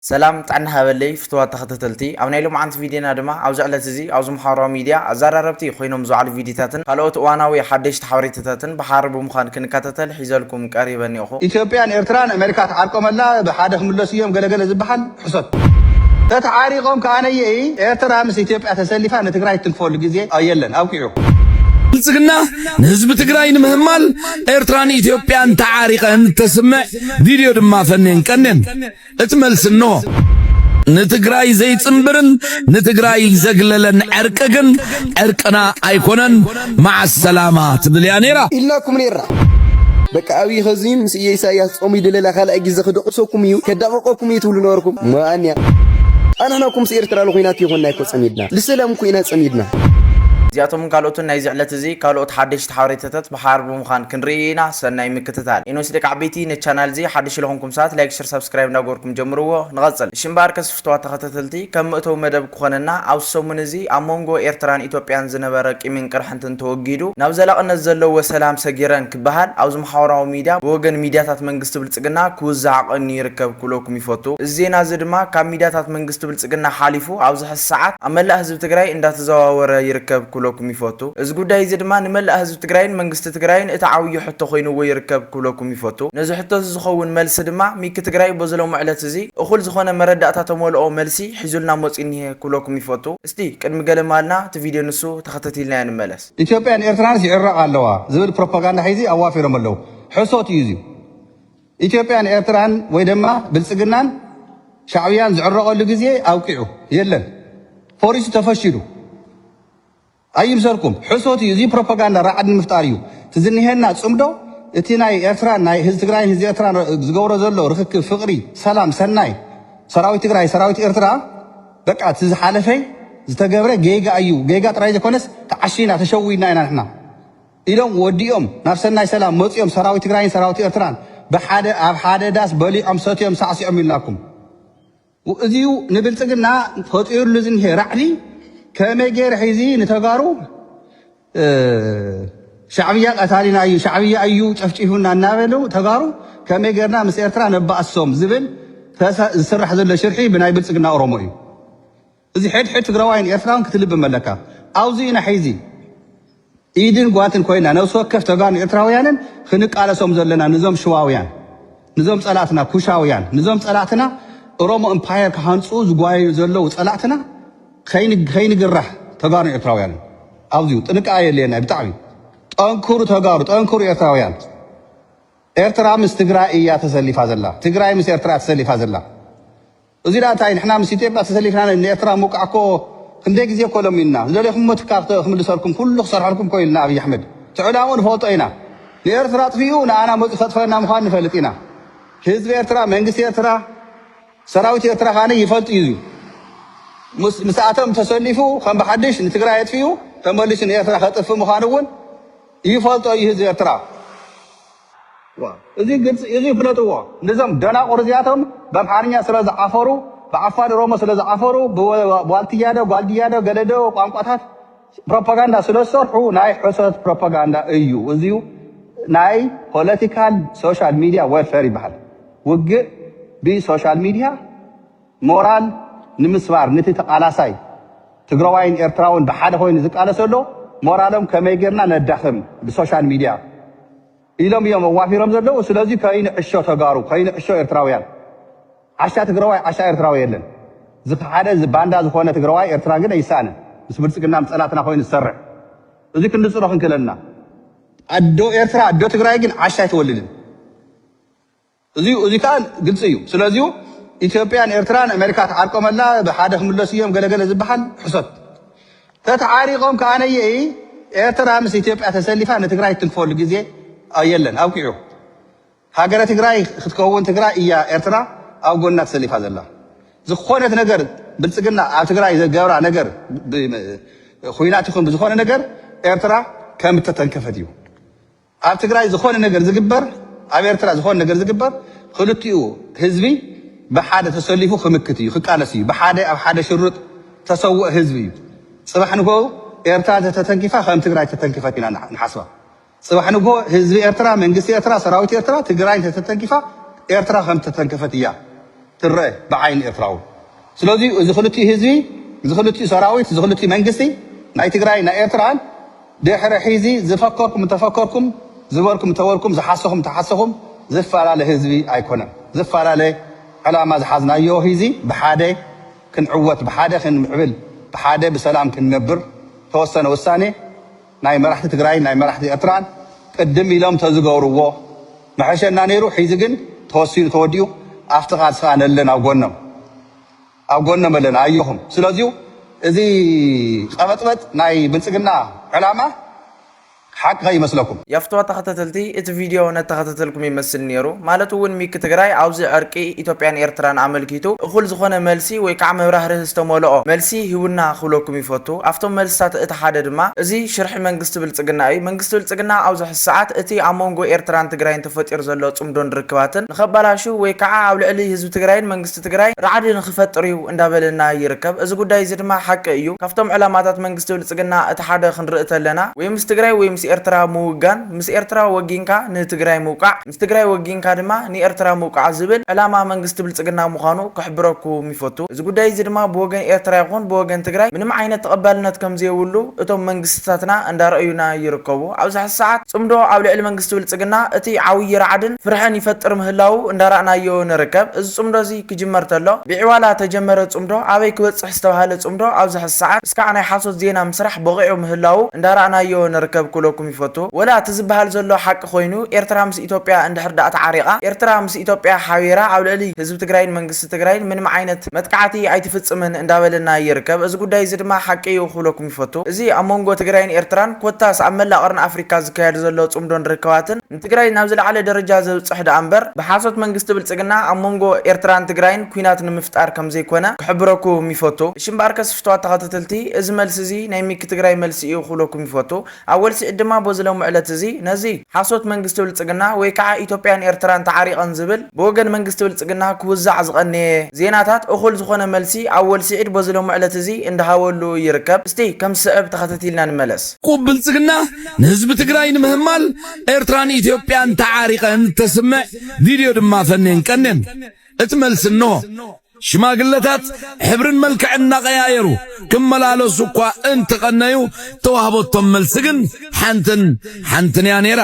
ሰላም ጥዕና ሃበለይ ፍትዋት ተኸተተልቲ ኣብ ናይ ሎምዓንቲ ቪድዬና ድማ ኣብዚ ዕለት እዚ ኣብዚ ማሓበራዊ ሚድያ ኣዛራረብቲ ኮይኖም ዝውዓሉ ቪድዬታትን ካልኦት እዋናዊ ሓደሽቲ ሓበሬታታትን ብሓሪ ብምዃን ክንካታተል ሒዘልኩም ቀሪበ እኔኹ። ኢትዮጵያን ኤርትራን ኣመሪካ ተዓርቆመላ ብሓደ ክምለሱ እዮም ገለ ገለ ዝብሃል ሕሶት ተተዓሪቆም ከኣነየ ኤርትራ ምስ ኢትዮጵያ ተሰሊፋ ንትግራይ ትትንክፈሉ ግዜ ኣየለን ኣብቂዑ። ብልፅግና ንህዝቢ ትግራይ ንምህማል ኤርትራን ኢትዮጵያን ተዓሪቀን እተስምዕ ቪድዮ ድማ ፈኔን ቀኔን። እቲ መልሲ እነሆ። ንትግራይ ዘይጽንብርን ንትግራይ ዘግለለን ዕርቂ ግን ዕርቅና ኣይኮነን ማዓሰላማ ትብል እያ ነይራ ኢልናኩም ነይርና። በቃ ኣብይ ኸዚ ምስ እየ ኢሳያስ ጾሙ ይደለላ ካልኣይ ግዜ ክድቕሰኩም እዩ ከዳቕቐኩም እዩ ትብሉ ነበርኩም እሞ ኣንያ ኣንሕና እኮ ምስ ኤርትራ ልኹናት ይኾንና ይኮ ጸሚድና ልሰላም እኮ ኢና ጸሚድና እዚኣቶምን ካልኦትን ናይዚ ዕለት እዚ ካልኦት ሓደሽቲ እቲ ሓበሬታታት ብሓባር ብምዃን ክንርኢ ኢና ሰናይ ምክትታል። ኤኖስ ደቂ ዓበይቲ ነቲ ቻናል እዚ ሓድሽ ለኾንኩም ሰባት ላይክ ሽር ሳብስክራይብ እንዳገበርኩም ጀምርዎ ንቐጽል እሺ እምበኣርከ ስፍትዋት ተኸታተልቲ ከም መእተዊ መደብ ክኾነና ኣብዚ ሰሙን እዚ ኣብ ሞንጎ ኤርትራን ኢትዮጵያን ዝነበረ ቂምን ቅርሕንትን ተወጊዱ ናብ ዘላቕነት ዘለዎ ሰላም ሰጊረን ክበሃል ኣብዚ ማሕበራዊ ሚድያ ብወገን ሚድያታት መንግስቲ ብልጽግና ክውዛዕ ቀንዩ ይርከብ ክብለኩም ይፈቱ እዚ ዜና እዚ ድማ ካብ ሚድያታት መንግስቲ ብልጽግና ሓሊፉ ኣብዚ ሰዓት ኣብ መላእ ህዝቢ ትግራይ እንዳተዘዋወረ ይርከብ ክብለኩም ይፈቱ። እዚ ጉዳይ እዚ ድማ ንመላእ ህዝቢ ትግራይን መንግስቲ ትግራይን እቲ ዓውዪ ሕቶ ኮይንዎ ይርከብ ክብለኩም ይፈቱ። ነዚ ሕቶ እዚ ዝኸውን መልሲ ድማ ሚኪ ትግራይ ቦዚ ሎሚ ዕለት እዚ እኹል ዝኾነ መረዳእታ ተመልኦ መልሲ ሒዙልና መፅዩ እኒሀ ክብለኩም ይፈቱ። እስቲ ቅድሚ ገለ ማልና እቲ ቪድዮ ንሱ ተኸተቲልናዮ ንመለስ። ኢትዮጵያን ኤርትራንስ ይዕረቃ ኣለዋ ዝብል ፕሮፓጋንዳ ሒዙ ኣዋፊሮም ኣለው ሕሶት እዩ እዙይ። ኢትዮጵያን ኤርትራን ወይ ደማ ብልጽግናን ሻዕብያን ዝዕረቐሉ ግዜ ኣብቂዑ የለን ፎሪሱ ተፈሺሉ ኣይምሰርኩም ሕሶት እዩ እዚ ፕሮፓጋንዳ ራዕዲ ንምፍጣር እዩ እቲ ዝኒሀና ጽምዶ እቲ ናይ ኤርትራን ናይ ህዝቢ ትግራይን ህዝቢ ኤርትራን ዝገብሮ ዘሎ ርክክብ ፍቕሪ ሰላም ሰናይ ሰራዊት ትግራይ ሰራዊት ኤርትራ በቃ እቲ ዝሓለፈይ ዝተገብረ ጌጋ እዩ ጌጋ ጥራይ ዘይኮነስ ተዓሺና ተሸዊድና ኢና ንሕና ኢሎም ወዲኦም ናብ ሰናይ ሰላም መጽዮም ሰራዊት ትግራይን ሰራዊት ኤርትራን ብሓደ ኣብ ሓደ ዳስ በሊዖም ሰትዮም ሳዕሲዖም ኢልናኩም እዚዩ ንብልጽግና ፈጢርሉ ዝኒሄ ራዕዲ ከመይ ገይረ ሒዚ ንተጋሩ ሻዕብያ ቀታሊና እዩ ሻዕብያ እዩ ጨፍጪፉና እናበሉ ተጋሩ ከመይ ገርና ምስ ኤርትራ ነባእሶም ዝብል ዝስራሕ ዘሎ ሽርሒ ብናይ ብልጽግና ኦሮሞ እዩ። እዚ ሕድ ሕድ ትግራዋይን ኤርትራውን ክትልብም ኣለካ ኣውዚ ኢና ሒዚ ኢድን ጓንትን ኮይና ነብሲ ወከፍ ተጋሩን ኤርትራውያንን ክንቃለሶም ዘለና ንዞም ሽዋውያን ንዞም ጸላትና ኩሻውያን ንዞም ጸላትና እሮሞ እምፓየር ክሃንጹ ዝጓየዩ ዘለዉ ጸላትና ከይንግራሕ ተጋሩን ኤርትራውያንን ኣውዚ ጥንቃቀ የድልየና ብጣዕሚ ጠንክሩ ተጋሩ ጠንክሩ ኤርትራውያን ኤርትራ ምስ ትግራይ እያ ተሰሊፋ ዘላ ትግራይ ምስ ኤርትራ ተሰሊፋ ዘላ እዚ ደኣ እንታይ ንሕና ምስ ኢትዮጵያ ተሰሊፍና ን ኤርትራ ምውቃዕ እኮ ክንደይ ግዜ እኮ ለሚንና ዝደለኹምዎ ትካል ክምልሰልኩም ኩሉ ክሰርሐልኩም እኮ ኢልና ኣብይ ኣሕመድ እቲ ዕላምኡ ንፈልጦ ኢና ንኤርትራ ኣጥፊኡ ንኣና መጽዩ ከጥፈኣና ምዃኑ ንፈልጥ ኢና ህዝቢ ኤርትራ መንግስቲ ኤርትራ ሰራዊት ኤርትራ ካኒ ይፈልጥ እዩ ምስ ምስኣቶም ተሰሊፉ ከም ብሓድሽ ንትግራይ ኣጥፊኡ ተመሊሱ ንኤርትራ ከጥፍእ ምዃኑ እውን ይፈልጦ እዩ ህዝቢ ኤርትራ እዚ ግልፂ እዚ ፍለጥዎ ንዞም ደናቁር እዚኣቶም በምሓርኛ ስለ ዝዓፈሩ ብዓፋር ኦሮሞ ስለ ዝዓፈሩ ብዋልትያ ዶ ጓልድያ ዶ ገለ ዶ ቋንቋታት ፕሮፓጋንዳ ስለ ዝሰርሑ ናይ ሕሶት ፕሮፓጋንዳ እዩ እዚ ናይ ፖለቲካል ሶሻል ሚድያ ወርፈር ይበሃል ውግእ ብሶሻል ሚድያ ሞራል ንምስባር ንቲ ተቃላሳይ ትግረዋይን ኤርትራውን ብሓደ ኮይኑ ዝቃለስ ዘሎ ሞራሎም ከመይ ጌርና ነዳኽም ብሶሻል ሚድያ ኢሎም እዮም ኣዋፊሮም ዘለዉ ስለዚ ከይንዕሾ ተጋሩ ከይንዕሾ ኤርትራውያን ዓሻ ትግረዋይ ዓሻ ኤርትራዊ የለን ዝኸሓደ ባንዳ ዝኾነ ትግረዋይ ኤርትራ ግን ኣይሳኣንን ምስ ብልጽግና ምስ ጸላትና ኮይኑ ዝሰርሕ እዚ ክንጽሎ ክንክእል ኣለና ኣዶ ኤርትራ ኣዶ ትግራይ ግን ዓሻ ኣይትወልድን። እዙይ እዙይ ከኣ ግልፂ እዩ። ስለዚዩ ኢትዮጵያን ኤርትራን ኣሜሪካ ትዓርቆመላ ብሓደ ክምለሱ እዮም ገለ ገለ ዝበሃል ሕሶት። ተተዓሪቆም ከኣነየ ኤርትራ ምስ ኢትዮጵያ ተሰሊፋ ንትግራይ ትትንክፈሉ ግዜ የለን ኣብቂዑ። ሃገረ ትግራይ ክትከውን ትግራይ እያ ኤርትራ ኣብ ጎና ተሰሊፋ ዘላ። ዝኾነት ነገር ብልፅግና ኣብ ትግራይ ዘገብራ ነገር ብኹናት ይኹን ብዝኾነ ነገር ኤርትራ ከም እተተንከፈት እዩ። ኣብ ትግራይ ዝኾነ ነገር ዝግበር ኣብ ኤርትራ ዝኾነ ነገር ዝግበር ኽልቲኡ ህዝቢ ብሓደ ተሰሊፉ ኽምክት እዩ ኽቃለስ እዩ ብሓደ ኣብ ሓደ ሽርጥ ተሰውእ ህዝቢ እዩ ፅባሕ ንግሆ ኤርትራ ተተተንኪፋ ከም ትግራይ ተተንኪፈት ኢና ንሓስባ ፅባሕ ንግሆ ህዝቢ ኤርትራ መንግስቲ ኤርትራ ሰራዊት ኤርትራ ትግራይ ተተተንኪፋ ኤርትራ ከም ተተንከፈት እያ ትረአ ብዓይኒ ኤርትራዊ ስለዚ እዚ ኽልቲኡ ህዝቢ እዚ ኽልቲኡ ሰራዊት እዚ ኽልቲኡ መንግስቲ ናይ ትግራይ ናይ ኤርትራን ድሕሪ ሒዚ ዝፈከርኩም እንተፈከርኩም ዝበልኩም እንተበልኩም ዝሓሰኹም እንተሓሰኹም ዝፋላለ ህዝቢ ኣይኮነን ዝፋላለ ዕላማ ዝሓዝናዮ ሂዚ ብሓደ ክንዕወት ብሓደ ክንምዕብል ብሓደ ብሰላም ክንነብር ተወሰነ ውሳኔ ናይ መራሕቲ ትግራይን ናይ መራሕቲ ኤርትራን ቅድም ኢሎም ተዝገብርዎ መሐሸና ነይሩ ሒዚ ግን ተወሲኑ ተወዲኡ ኣፍቲ ቃልሲ ከኣ ነለን ኣብ ጎኖም ኣብ ጎኖም ኣለና ኣዮኹም ስለዚዩ እዚ ቐበጥበጥ ናይ ብልጽግና ዕላማ ሓቂ ከይመስለኩም። የፍትዋ ተኸተተልቲ እቲ ቪድዮ ነተኸተተልኩም ይመስል ኔሩ ማለት ውን ሚኪ ትግራይ ኣብዚ ዕርቂ ኢትዮጵያን ኤርትራን ኣመልኪቱ እኹል ዝኾነ መልሲ ወይ ካዓ መብራህርሂ ዝተሞሎኦ መልሲ ሂቡና ክብለኩም ይፈቱ ኣፍቶም መልስታት እቲ ሓደ ድማ እዚ ሽርሒ መንግስቲ ብልፅግና እዩ መንግስቲ ብልፅግና ኣብዚ ሕዚ ሰዓት እቲ ኣብ ሞንጎ ኤርትራን ትግራይን ተፈጢሩ ዘሎ ፅምዶን ርክባትን ንኸባላሹ ወይ ካዓ ኣብ ልዕሊ ህዝቢ ትግራይን መንግስቲ መንግስቲ ትግራይ ራዕዲ ንክፈጥር እዩ እንዳበለና ይርከብ። እዚ ጉዳይ እዚ ድማ ሓቂ እዩ። ካብቶም ዕላማታት መንግስቲ ብልፅግና እቲ ሓደ ክንርኢ ተለና ወይ ምስ ትግራይ ወይ ምስ ኤርትራ ምውጋን፣ ምስ ኤርትራ ወጊንካ ንትግራይ ምውቃዕ፣ ምስ ትግራይ ወጊንካ ድማ ንኤርትራ ምውቃዕ ዝብል ዕላማ መንግስቲ ብልፅግና ምዃኑ ክሕብረኩም ይፈቱ። እዚ ጉዳይ እዚ ድማ ብወገን ኤርትራ ይኹን ብወገን ትግራይ ምንም ዓይነት ተቐባልነት ከምዘየብሉ እቶም መንግስትታትና እንዳረኣዩና ይርከቡ። ኣብዚ ሕዚ ሰዓት ፅምዶ ኣብ ልዕሊ መንግስቲ መንግስቲ ብልጽግና እቲ ዓውዪ ራዕድን ፍርሕን ይፈጥር ምህላዉ እንዳራእናዮ ንርከብ። እዚ ጽምዶ እዚ ክጅመር ተሎ ብዒዋላ ተጀመረ ጽምዶ ኣበይ ክበጽሕ ዝተባህለ ጽምዶ ኣብዚ ሐዚ ሰዓት እስካዕ ናይ ሓሶት ዜና ምስራሕ ቦቒዑ ምህላዉ እንዳራእናዮ ንርከብ ክብለኩም ይፈቱ። ወላ እቲ ዝበሃል ዘሎ ሓቂ ኮይኑ ኤርትራ ምስ ኢትዮጵያ እንድሕር ድኣ ተዓሪቓ ኤርትራ ምስ ኢትዮጵያ ሓቢራ ኣብ ልዕሊ ህዝቢ ትግራይን መንግስቲ መንግስቲ ትግራይ ምንም ዓይነት መጥቃዕቲ ኣይትፍፅምን እንዳበለና ይርከብ። እዚ ጉዳይ እዚ ድማ ሓቂ እዩ ክብለኩም ይፈቱ። እዚ ኣብ መንጎ ትግራይን ኤርትራን ኮታስ ኣብ መላእ ቐርኒ ኣፍሪካ ዝካየድ ዘሎ ፅምዶን ርክባትን ንትግራይ ናብ ዝለዓለ ደረጃ ዘብፅሕ ደኣ እምበር ብሓሶት መንግስቲ ብልፅግና ኣብ መንጎ ኤርትራን ትግራይን ኩናት ንምፍጣር ከምዘይኮነ ክሕብረኩም ይፈቱ። እሺ እምበኣርከስ ፍትዋት ተኸታተልቲ እዚ መልሲ እዚ ናይ ሚኪ ትግራይ መልሲ እዩ ክብለኩም ይፈቱ። ኣወል ሲዒድ ድማ ቦዚ ሎሚ ዕለት እዚ ነዚ ሓሶት መንግስቲ ብልጽግና ወይ ካዓ ኢትዮጵያን ኤርትራን ተዓሪቐን ዝብል ብወገን መንግስቲ ብልጽግና ክውዛዕ ዝቐነየ ዜናታት እኹል ዝኾነ መልሲ ኣወል ሲዒድ ቦዚ ሎሚ ዕለት እዚ እንዳሃበሉ ይርከብ እስቲ ከም ዝስዕብ ተኸተቲልና ንመለስ። ቁብ ብልጽግና ንህዝቢ ትግራይ ንምህማል ኤርትራን ኢትዮጵያን ተዓሪቐን እተስምዕ ቪድዮ ድማ ፈንየን ቀንየን እቲ መልሲ እነሆ። ሽማግለታት ሕብርን መልክዕን እናቐያየሩ ክመላለሱ እኳ እንተቐነዩ፣ እተዋህበቶም መልሲ ግን ሓንትን ሓንትን እያ ነይራ።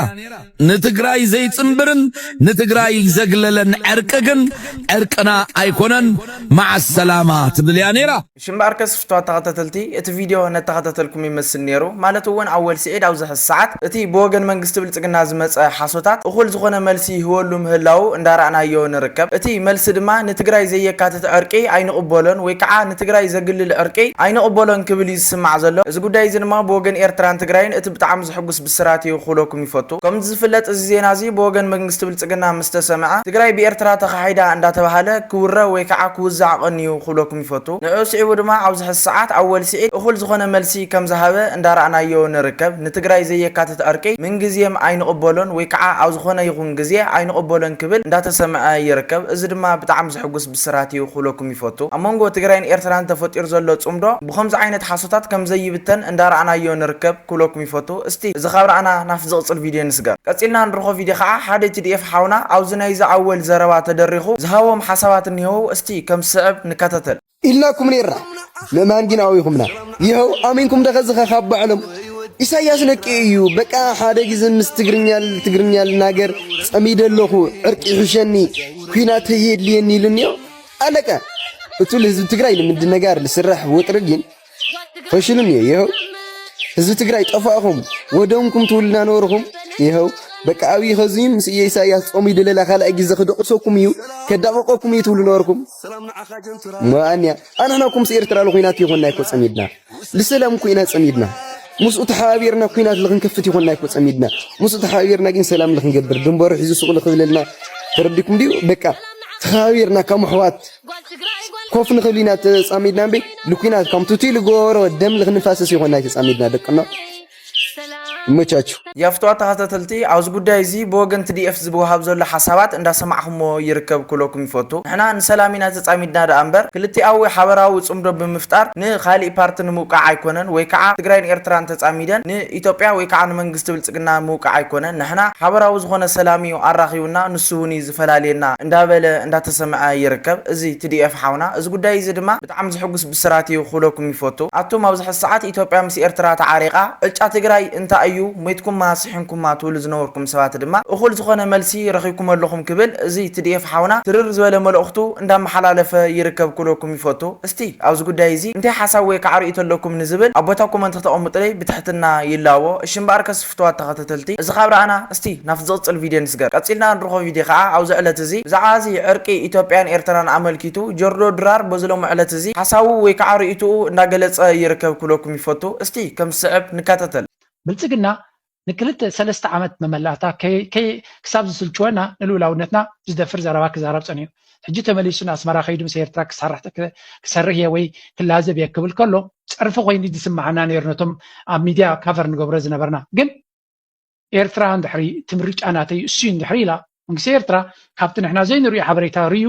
ንትግራይ ዘይጽንብርን ንትግራይ ዘግለለን ዕርቂ ግን ዕርቅና ኣይኮነን፣ መዓሰላማ ትብል እያ ነይራ። እሺ እምበኣርከስ ፍቱዋት ተኸታተልቲ እቲ ቪድዮ ነተኸታተልኩም ይመስል ኔሩ ማለት እውን ኣወል ስዒድ ኣብዚ ሐዚ ሰዓት እቲ ብወገን መንግስቲ ብልፅግና ዝመፀ ሓሶታት እኹል ዝኾነ መልሲ ይህበሉ ምህላዉ እንዳራእናዮ ንርከብ እቲ መልሲ ድማ ንትግራይ ዘየካትት ዕርቂ ኣይንቕበሎን ወይ ከዓ ንትግራይ ዘግልል ዕርቂ ኣይንቕበሎን ክብል እዩ ዝስማዕ ዘሎ እዚ ጉዳይ እዚ ድማ ብወገን ኤርትራን ትግራይን እቲ ብጣዕሚ ዘሕጉስ ብስራት እዩ ክብለኩም ይፈቱ ከምቲ ዝፍለጥ እዚ ዜና እዚ ብወገን መንግስቲ ብልፅግና ምስተሰምዐ ትግራይ ብኤርትራ ተኻሒዳ እንዳተብሃለ ክውረ ወይ ከዓ ክውዛዕ ቀንዩ ክብለኩም ይፈቱ። ንዕኡ ስዒቡ ድማ ኣብዚ ሕዚ ሰዓት ኣወል ስዒድ እኹል ዝኾነ መልሲ ከም ዝሃበ እንዳራእናዮ ንርከብ። ንትግራይ ዘየካትት ዕርቂ ምንግዝየም ኣይንቕበሎን ወይ ከዓ ኣብ ዝኾነ ይኹን ግዜ ኣይንቕበሎን ክብል እንዳተሰምዐ ይርከብ። እዚ ድማ ብጣዕሚ ዘሕጉስ ብስራት እዩ ክብለኩም ይፈቱ። ኣብ መንጎ ትግራይን ኤርትራን ተፈጢሩ ዘሎ ፅምዶ ብኸምዚ ዓይነት ሓሶታት ከም ዘይብተን እንዳራእናዮ ንርከብ ክብለኩም ይፈቱ። እስቲ እዚ ካብ ራእና ናብቲ ዝቕፅል ቪድዮ ንስገር። ቀፂልና ንረኽቦ ቪድዮ ከዓ ሓደ TDF ሓውና ኣብዚ ናይዚ ኣወል ዘረባ ተደሪኹ ዝሃቦም ሓሳባት እኒሀዉ። እስቲ ከም ዝስዕብ ንከታተል። ኢልናኩም ኔርና ንእማን ጊን ኣዊኹምና ይሀው ኣሚንኩም ዶ ኸዚ ኸ ካብ ባዕሎም ኢሳያስ ነቂኡ እዩ በቃ ሐደ ጊዘ ምስ ትግርኛ ትግርኛ ልናገር ጸሚደ ኣለኹ ዕርቂ ይሕሸኒ ኩናት ህየድልየኒ ኢሉኒዮ ኣለቀ እቱ ልህዝቢ ትግራይ ልምድነጋር ልስረሕ ወጥሪ ጊን ፈሽልም እየ ይኸው ህዝቢ ትግራይ ጠፋእኹም ወደምኩም ትውልና ነበርኹም ይኸው በቃ ኣብይ ኸዙይን ምስ እየ ኢሳያስ ጾሙ ይድለላ ካልኣይ ግዜ ክደቕሰኩም እዩ ከዳቐቐኩም እዩ ትብሉ ነበርኩም መኣንያ ኣንሕና እኮ ምስ ኤርትራ ልኩናት ይኾና ይኮ ጸሚድና ልሰላም እኮ ኢና ጸሚድና ምስኡ ተሓባቢርና ኩናት ልኽንከፍት ይኾና ይኮ ጸሚድና ምስኡ ተሓባቢርና ግን ሰላም ልኽንገብር ድንበሩ ሒዙ ሱቕ ልኽብለልና ተረዲኩም ድዩ በቃ ተኸባቢርና ከም ኣሕዋት ኮፍ ንኽእል ኢና ተጻሚድና እምበይ ንኲናት ከም ቱቲ ልጎሮ ደም ንኽንፋሰስ ይኾና ተጻሚድና ደቅና ይመቻችሁ። ያፍትዋ ተኸታተልቲ ኣብዚ ጉዳይ እዚ ብወገን ትዲኤፍ ዝወሃብ ዘሎ ሓሳባት እንዳሰማዕኹሞ ይርከብ ክብለኩም ይፈቱ። ንሕና ንሰላም ኢና ተጻሚድና ደኣ እምበር ክልቲኣዊ ሓበራዊ ጽምዶ ብምፍጣር ንኻሊእ ፓርቲ ንምውቃዕ ኣይኮነን ወይ ከዓ ትግራይን ኤርትራን ተጻሚደን ንኢትዮጵያ ወይ ከዓ ንመንግስቲ ብልጽግና ምውቃዕ ኣይኮነን ንሕና ሓበራዊ ዝኾነ ሰላም እዩ ኣራኺቡና ንሱ እውን እዩ ይፈላልየና እንዳበለ እንዳተሰምዐ ይርከብ እዚ TDF ሓውና እዚ ጉዳይ እዚ ድማ ብጣዕሚ ዝሕጉስ ብስራት እዩ ክብለኩም ይፈቱ ኣቱም ኣብዚ ሕዚ ሰዓት ኢትዮጵያ ምስ ኤርትራ ተዓሪቃ ዕጫ ትግራይ እንታይ እዩ ሞይትኩማ ስሒንኩማ ትብሉ ዝነበርኩም ሰባት ድማ እኹል ዝኾነ መልሲ ረኺብኩሞ ኣለኹም ክብል እዚ TDF ሓውና ትርር ዝበለ መልእኽቱ እንዳመሓላለፈ ይርከብ ክብለኩም ይፈቱ እስቲ ኣብዚ ጉዳይ እዚ እንታይ ሓሳብ ወይ ከዓ ርእይቶ ኣለኩም ንዝብል ኣብ ቦታ ኮመንት ክተቀምጡለይ ብትሕትና ይላቦ እሺ እምበኣርከስ ፍቱዋት ተኸተተልቲ እዚ ካብ ረኣና እስቲ ናብቲ ዝቕጽል ቪድዮ ንስገር። ቀጺልና እንርኾ ቪድዮ ከኣ ኣብዚ ዕለት እዚ ብዛዕባ እዚ ዕርቂ ኢትዮጵያን ኤርትራን ኣመልኪቱ ጆርጆ ድራር በዚ ሎሚ ዕለት እዚ ሓሳቡ ወይ ከኣ ርእይትኡ እንዳገለጸ ይርከብ ክብለኩም ይፈቱ። እስቲ ከም ዝስዕብ ንከታተል። ብልጽግና ንክልተ ሰለስተ ዓመት መመላእታ ክሳብ ዝስልችወና ንልኡላውነትና ዝደፍር ዘረባ ክዛረብ ጸኒሑ። ሕጂ ተመሊሱ ንኣስመራ ከይዱ ምስ ኤርትራ ክሰርሕ እየ ወይ ክላዘብ እየ ክብል ከሎ ጸርፊ ኮይኑ ዝስማዓና ነይሩ ነቶም ኣብ ሚድያ ካቨር ንገብሮ ዝነበርና ግን ኤርትራ እንድሕሪ እቲ ምርጫ ናተይ እሱ እንድሕሪ ኢላ መንግስቲ ኤርትራ ካብቲ ንሕና ዘይንሪኦ ሓበሬታ ርዩ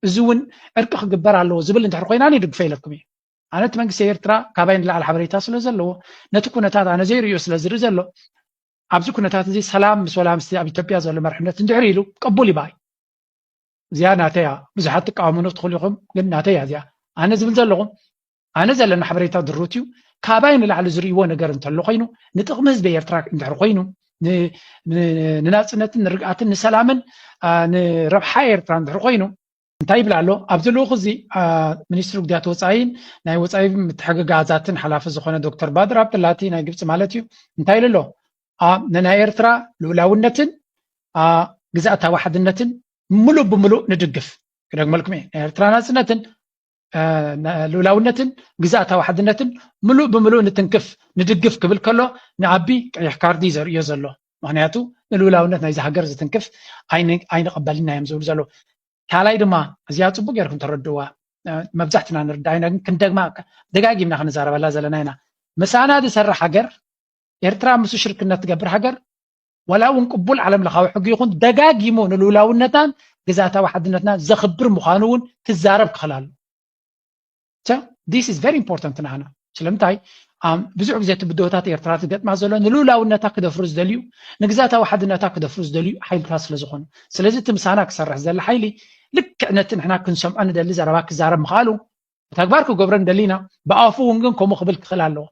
እዚ እውን ዕርቂ ክግበር ኣለዎ ዝብል እንድሕሪ ኮይና ኣነ ይድግፈ ኢለኩም እየ ኣነ እቲ መንግስቲ ኤርትራ ካባይ ንላዕሊ ሓበሬታ ስለ ዘለዎ ነቲ ኩነታት ኣነ ዘይርዮ ስለ ዝርኢ ዘሎ ኣብዚ ኩነታት እዚ ሰላም ምስ ወላ ምስ ኣብ ኢትዮጵያ ዘሎ መርሕነት እንድሕሪ ኢሉ ቅቡል ይባይ እዚኣ ናተይ እያ ብዙሓት ትቃወሙኒ ክትኽእሉ ኢኹም ግን ናተይ እያ እዚኣ ኣነ ዝብል ዘለኹ ኣነ ዘለኒ ሓበሬታ ድሩት እዩ ካባይ ንላዕሊ ዝርእይዎ ነገር እንተሎ ኮይኑ ንጥቕሚ ህዝቢ ኤርትራ እንድሕር ኮይኑ ንናፅነትን ንርግኣትን ንሰላምን ንረብሓ ኤርትራ እንድሕር ኮይኑ እንታይ ይብል ኣሎ ኣብዚ ልኡኽ እዚ ሚኒስትሪ ጉዳያት ወፃኢን ናይ ወፃኢ ምትሕግጋዛትን ሓላፊ ዝኾነ ዶክተር ባድር ኣብደላቲ ናይ ግብፂ ማለት እዩ እንታይ ኢሉ ኣሎ ንናይ ኤርትራ ልኡላውነትን ግዝኣታዊ ሓድነትን ምሉእ ብምሉእ ንድግፍ ክደግመልኩም እየ ናይ ኤርትራ ናፅነትን ልኡላውነትን ግዝኣታዊ ሓድነትን ምሉእ ብምሉእ ንትንክፍ ንድግፍ ክብል ከሎ ንኣቢ ቀይሕ ካርዲ ዘርእዮ ዘሎ ምክንያቱ ንልኡላውነት ናይዚ ሃገር ዝትንክፍ ኣይንቐበልና እዮም ዝብሉ ዘለዉ ካልኣይ ድማ እዚኣ ፅቡቅ ጌርኩም ተረድዋ መብዛሕትና ንርዳ ኢና ግን ክንደግማ ደጋጊምና ክንዛረበላ ዘለና ኢና ምሳና ዝሰርሕ ሃገር ኤርትራ ምስ ሽርክነት ትገብር ሃገር ዋላ እውን ቅቡል ዓለም ለኻዊ ሕጊ ይኹን ደጋጊሙ ንልውላውነታን ግዛታዊ ሓድነትና ዘኽብር ምዃኑ እውን ክዛረብ ክኽእል ኣሎ ዲስ ኢዝ ቨሪ ኢምፖርታንት ንዓና ስለምንታይ ብዙሕ ግዜ እቲ ብድሆታት ኤርትራ ዝገጥማ ዘሎ ንልኡላውነታ ክደፍሩ ዝደልዩ ንግዛታዊ ሓድነታ ክደፍሩ ዝደልዩ ሓይልታት ስለ ዝኾኑ ስለዚ እቲ ምሳና ክሰርሕ ዘለ ሓይሊ ልክዕ ነቲ ንሕና ክንሰምዖ ንደሊ ዘረባ ክዛረብ ምኽኣሉ ብተግባር ክገብረን ደሊና ብኣፉ እውን ግን ከምኡ ክብል ክኽእል ኣለዎ።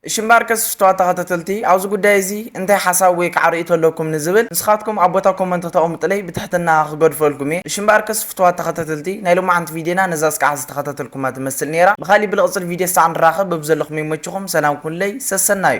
እሺ እምበኣርከስ ፍቱዋት ተኸታተልቲ ኣብዚ ጉዳይ እዚ እንታይ ሓሳብ ወይ ከዓ ርእይቶ ኣለኩም ንዝብል ንስኻትኩም ኣብ ቦታ ኮመንት ክተቐምጡለይ ብትሕትና ክገድፈልኩም እየ። እሺ እምበኣርከስ ፍቱዋት ተኸታተልቲ ናይ ሎማዓንቲ ቪድዮና ነዛ እስካዕ ዝተኸታተልኩማ ትመስል ነይራ። ብኻሊእ ብልቕፅል ቪድዮ እስካዕ ንራኸብ በብዘለኹመይ ይመችኹም ሰላም ኩኑለይ ሰሰናዩ።